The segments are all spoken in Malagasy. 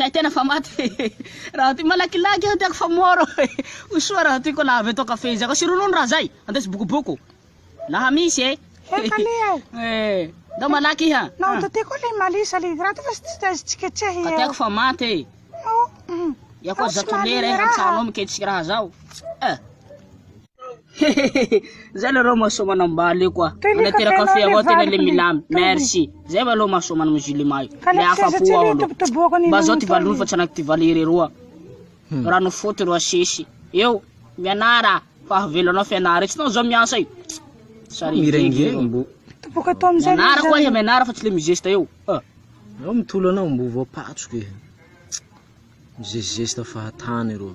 Kay tena fa maty e raha ty malakilaky aho tiako fa moro e ho soa raha ty ko la avy eto café izy ako sy ronono raha zay andeso bokoboko laha misy e eh ndao malaky iha nao to ty ko le malisa le graty fa tsy tazy tsiketsehy eo tiako fa maty e ia ko zato lera e hantsano miketsika raha zao eh Hehehehe zay le reo mahasoa manao mbaly io koa manatera kafe avao tena le milamy merci zay va lo mahasoa manao musulman io le afa-po ao aloha mba zao ty valiny fa tsy anaky ty valy irery oa hmm. rano foty ro asesy eo mianara fa havelo anao fianara tsy nao zao miasa io sary mirengireng mbo topoka atao amizay mianara koa iha mianara fa tsy le mizesta eo ah. eo mitolo anao mbo voapatsoko e mizesizesta fahatany reo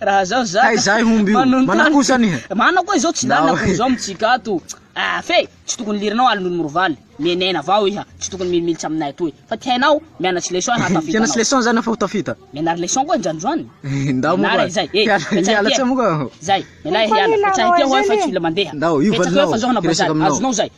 Raha zao za Hay zahay homby io. manontany- Mana kosa anie. Mana koa izao tsy Nao. lanako zao mitsika ato Ah, fe tsy tokony lirinao alin'olo mirovaly Mienena avao iha Tsy tokony milimilitsy aminay atoy Fa ty hainao mianatry leçon iha hatafita Tena tsy anao leçon zany aho fa ho tafita. Mianary leçon koa injany zany Ndao moa Mianara koa. izay eh Hiala- Betsaha hiala ty, tse eh. moa koa. Zay, mialà Koa hiala, ny betsaha ty lalao aho eh, fa izay tsy mila mandeha. Ndao, io Betsaka valinao, hoe fa zao hanao hiresaka bazary, aminao. azonao zay.